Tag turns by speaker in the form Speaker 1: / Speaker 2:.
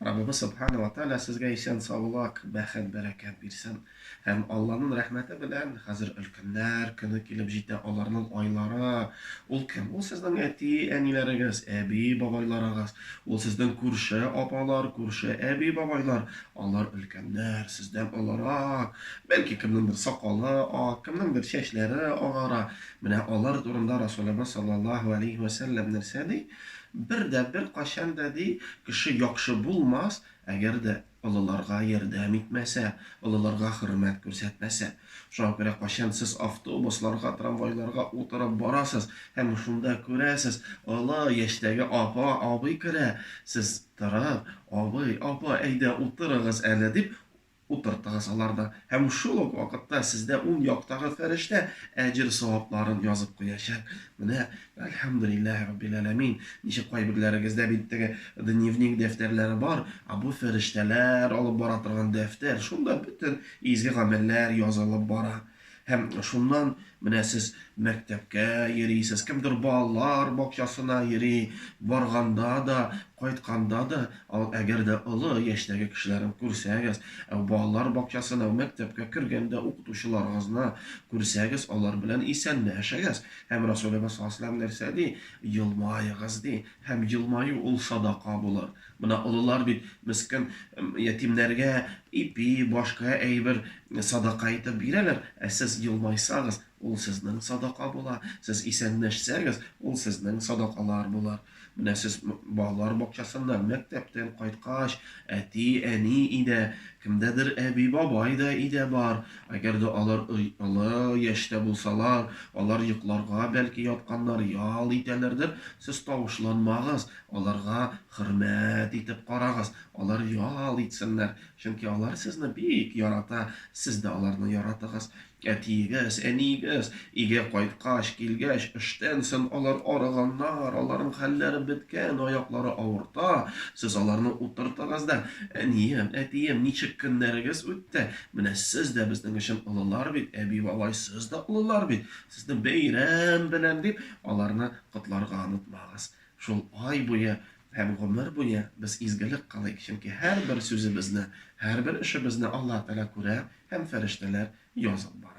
Speaker 1: Раббыбыз Субхана ва Тааля сезгә исән саулак, бәхет, бәрәкәт бирсен. Һәм Алланын рәхмәте белән, хәзер өлкәннәр көне килеп җитә, аларнын айлары, ул кем? Ул сезнең әти, әниләрегез, әби, бабайларыгыз, ул сезнең күрше апалар, күрше әби, бабайлар, алар өлкәннәр, сездән олырак, бәлки кемнеңдер сакалы ак, кемнеңдер чәчләре агара, менә алар турында Расулыбыз саллаллаһу алейһи вә сәлләм нәрсә ди? Бер дә, беркайчан да, ди, кеше яхшы булмас, әгәр дә олыларга ярдәм итмәсә, олыларга хөрмәт күрсәтмәсә. Шуңа күрә кайчан сез автобусларга, трамвайларга утырып барасыз һәм шунда күрәсез, олы яшьтәге апа, абый керә, сез торып, Абый, апа, әйдә, утырыгыз әле, дип, Утыртыгыз аларны, һәм шул ук вакытта сездә уң яктагы фәрештә әҗер-савапларын язып куячак. Менә, әлхәмдүлилләһи раббил әләмин, ничек кайберләрегездә бит теге дневник дәфтәрләре бар, ә бу фәрештәләр алып бара торган дәфтәр, шунда бөтен изге гамәлләр язылып бара. Һәм шуннан менә сез мәктәпкә йөрисез, кемдер балалар бакчасына йөри, барганда да, кайтканда да, әгәр дә олы яшьтәге кешеләрен күрсәгез, балалар бакчасына, мәктәпкә кергәндә укытучыларыгызны күрсәгез, алар белән исәнләшегез. Һәм Расулебез саллаллаһу галәйһи ва сәлләм нәрсә ди? Елмаегыз, ди. Һәм елмаю ул садака булыр. Менә олылар бит мескен ятимнәргә ипи, башка әйбер садака итеп бирәләр, ә сез елмайсагыз, ул сезнең садака була, сез исәнләшсәгез, ул сезнең садакалар булыр. Менә сез балалар бакчасыннан, мәктәптән кайткач, әти, әни идә, кемдәдер әби, бабай да идә бар. Әгәр дә алар олы яшьтә булсалар, алар йокларга бәлки ятканнар, ял итәләрдер, сез тавышланмагыз, Аларга хөрмәт итеп карагыз, алар ял итсеннәр, чөнки алар сезне бик ярата, сез дә аларны яратыгыз. Әтиегез, әниегез, өйгә кайткач, килгәч, эштән сон алар арыганнар, аларның хәлләре беткән, аяклары авырта, сез аларны утыртыгыз да, Әнием, әтием, ничек көннәрегез үтте? Менә сез дә безнең өчен олылар бит, әби-бабай, сез дә олылар бит, сезне бәйрәм белән, дип, аларны котларга онытмагыз. Шул ай буе һәм гомер буе без изгелек кылыйк, чөнки һәрбер сүзебезне, һәрбер эшебезне Аллаһ Тәгалә күрә һәм фәрештәләр язып бара.